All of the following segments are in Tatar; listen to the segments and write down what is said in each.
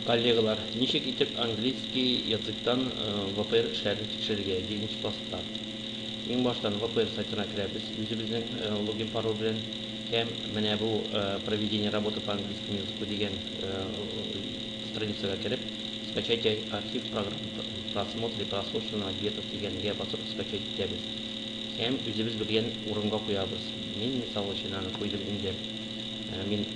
Коллегалар, ничек итеп английский языктан ВПР эшләрен тикшерергә, җиденче класста? Иң баштан ВПР сайтына керәбез, үзебезнең логин-пароль белән һәм менә бу Проведение работы по английскому языку дигән страницага кереп, Скачать архив программ просмотр и прослушивание ответов дигәнгә басып скачать итәбез һәм үзебез белгән урынга куябыз. Мин, мисал өчен, аны куйдым инде. Мин.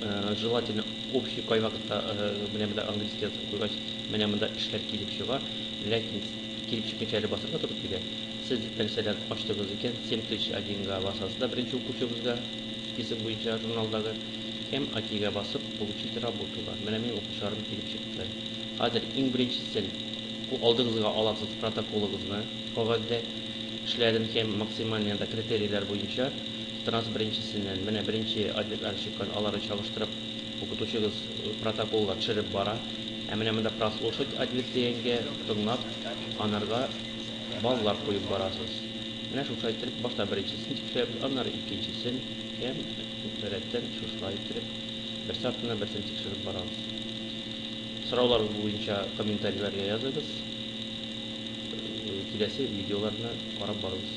Э, желательно общий кай вакытта э, менә монда английский язып куйгач менә монда эшләр килеп чыга ләкин килеп чыкканча әле басырга туры килә сез мәсәлән ачтыгыз икән 7001 га басасыз да беренче укучыбызга список буенча журналдагы м 2 га басып получить работу бар менә минем укучыларым килеп чыкты хәзер иң беренчесен алдыгызга аласыз протоколыгызны кагазьдә эшләрен һәм максимальный критерийлар буенча Транс беренчесеннән, менә беренче ответлар чыккан, аларны чагыштырып, укытучыгыз протоколга төшереп бара. Ә менә монда прослушать ответ дигәнгә, тыңлап, анарга баллар куеп барасыз. Менә шушылай иттереп, башта беренчесен тикшерәбез, аннары икенчесен һәм рәттән шушылай иттереп, берсе артыннан берсен тикшереп барабыз. Сорауларыгыз буенча комментарийларга языгыз, киләсе видеоларны карап барыгыз.